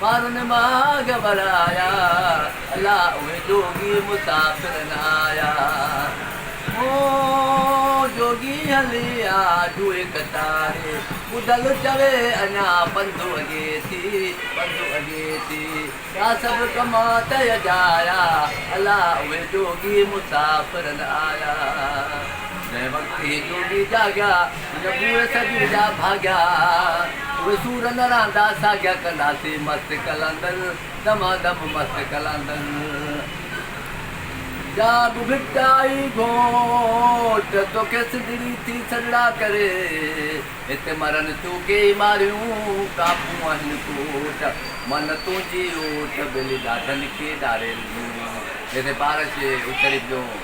ٻارن ماڳ ورايا، الا اهي جوڳي مسافر نه آيا. او جوڳي هلي آ جوئي ڪٽاري، ٻڌل چوي اڃا پنڌ اڳي ٿي، پنڌ اڳي ٿي. ٻيا سڀ ڪم تئي جايا، الا اهي جوڳي مسافر نه آيا. جنهن وقت هي جوڳي جاڳيا. نبوء سڄڻ جا ڀاڳيا، اهي سور نه رهندا ساڳيا، ڪنداسين مست قلندر، دما دم مست قلندر. جا به ڀٽائي گهوٽ، توکي سنڌڙي ٿي سڏڙا ڪري، هت مرن ٿيون ڪيئي ماريون، ڪاپون آهن کوٽ، من تنهنجي اوٽ، ٻلي ڏاڍن کي ڏارين ڏيون. جتي پارش اتري پيو.